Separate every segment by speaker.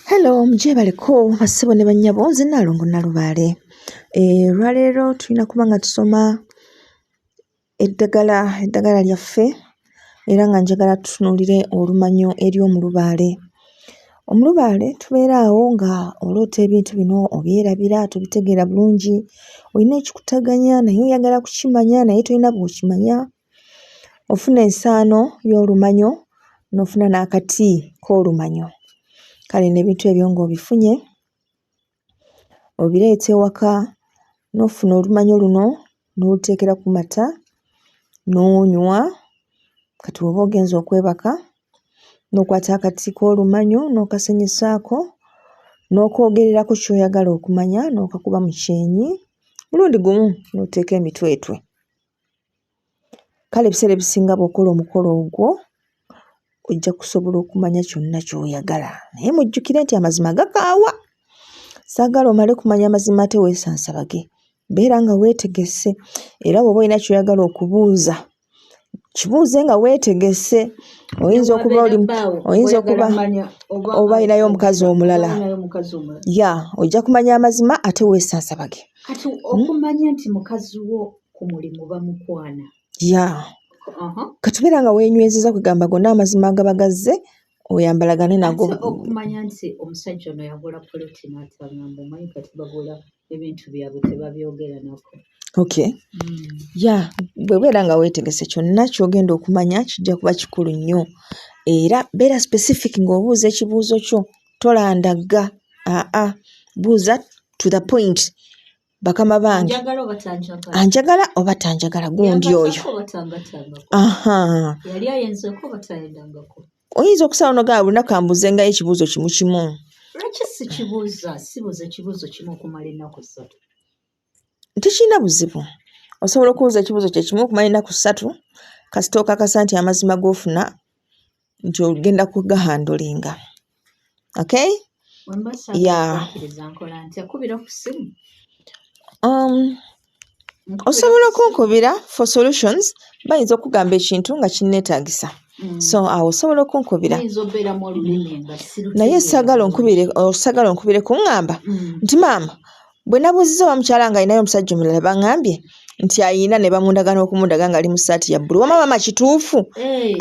Speaker 1: hello mugyebaleko basibo ne bannyabo nze nalongo nalubaale eh, olwaleero tulina kuba nga tusoma eddagala eddagala lyaffe era nga njagala tutunuulire olumanyo eri omulubaale omulubaale tubeera awo nga oloota ebintu bino obyerabira tubitegeera bulungi olina ekikutaganya naye oyagala kukimanya naye tolina bwokimanya ofuna ensaano y'olumanyo n'ofuna n'akati k'olumanyo kale n'ebintu ebyo ng'obifunye obireeta ewaka n'ofuna olumanyo luno n'oluteekera ku mata n'onywa kati woba ogenza okwebaka n'okwata akati k'olumanyo n'okasenyisaako n'okwogererako kyoyagala okumanya n'okakuba mu kyenyi mulundi gumu n'oteeka emitwetwe. kale ebiseera ebisinga bw'okola omukolo ogwo ojja kusobola okumanya kyonna ky'oyagala naye mujjukire nti amazima gakaawa saagala omale kumanya amazima ate weesansabage beera nga weetegese era bw'oba olina kyoyagala okubuuza kibuuze nga weetegese oyinza okuba oli oyinza okuba oba ayinayo omukazi omulala ya ojja kumanya amazima ate weesansabage kati
Speaker 2: okumanya nti mukazi wo ku mulimu bamukwana ya uh-huh.
Speaker 1: katubeera nga wenywezeza kwegamba gonna amazima agaba gazze oyambalagane nago okumanya nti
Speaker 2: omusajja ono yagula poloti natagamba omanyi kati bagula ebintu byabwe tebabyogera nako
Speaker 1: okay mm. ya bwebeera nga wetegese kyonna kyogenda okumanya kijja kuba kikulu nnyo era beera specific ng'obuuza ekibuuzo kyo tolandagga aa buuza to the point bakama bange anjagala oba tanjagala gundi oyo
Speaker 2: oyinza okusala
Speaker 1: nogaa olunaku ambuze ngayo ekibuuzo kimu kimu tekirina buzibu osobola okubuuza ekibuuzo kyekimu okumala enaku ssatu kasita okakasa nti amazima gofuna nti ogenda kugahandulinga okay yeah. um, osobola okunkubira for solutions bayinza okugamba ekintu nga kinnetagisa mm. so awo osobola okunkubira naye sagala onkubire osagala onkubire kuŋŋamba mm. nti maama Bwe nabuuzizza oba mukyala nga alinayo omusajja omulala bangambye nti ayina ne bamundaga n'okumudaga ng'ali mu ssaati ya bbulu. Wama maama kituufu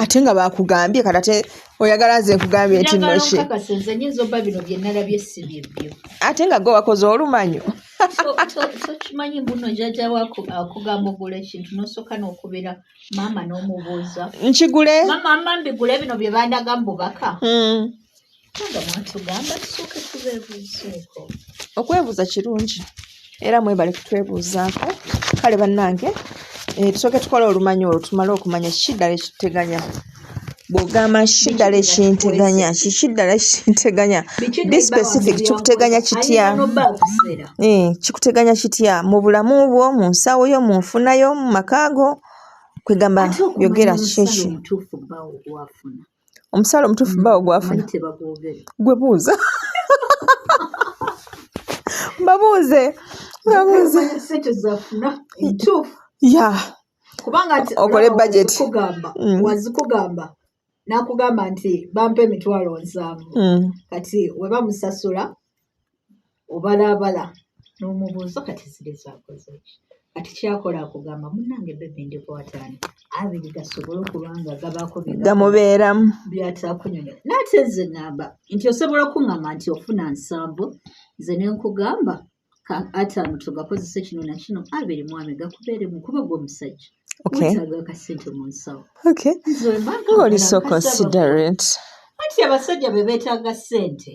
Speaker 1: ate nga baakugambye kati ate oyagala nze nkugambye nti noshe ate nga gwe wakoze olumanyo tokimanyi
Speaker 2: mbuno jaja wako akugamba ogula ekintu nosooka n'okubeera maama n'omubuuza nkigule maama
Speaker 1: mbigule
Speaker 2: bino bye bandaga mu bubaka hmm. okwebuuza
Speaker 1: kirungi era mwebale kutwebuuzaako kale bannange eh, tusooke tukola olumanyi olwo tumale okumanya kiki ddala ekiteganya bwogamba kiki ddala ekinteganya kiki ddala ekinteganya be specific kikuteganya kitya eh, kikuteganya kitya mu bulamu bwo mu nsawo yo mu nfuna yo mu makaago kwegamba yogera kiki omusaala omutuufu mm, bawo gwafuna gwe buuza babuuze babuuze ya kubanga okole bajeti kugamba mm. wazikugamba
Speaker 2: nakugamba nti bampa emitwalo nsanvu mm. kati webamusasula obalabala n'omubuuzo kati ziri zakoze kati kyakola akugamba munange bebi ndikwataani abiri gasobole okuba nga gabaako gamubeeramu
Speaker 1: byatakunyonyola
Speaker 2: naate nze ngamba nti osobola okuŋŋamba nti ofuna nsambu nze ne nkugamba ataano tugakozese kino na kino abiri mwami gakubeeremu kuba gwe omusajja wetaaga akasente mu nsawo
Speaker 1: oli so considerate anti
Speaker 2: abasajja be beetaaga ssente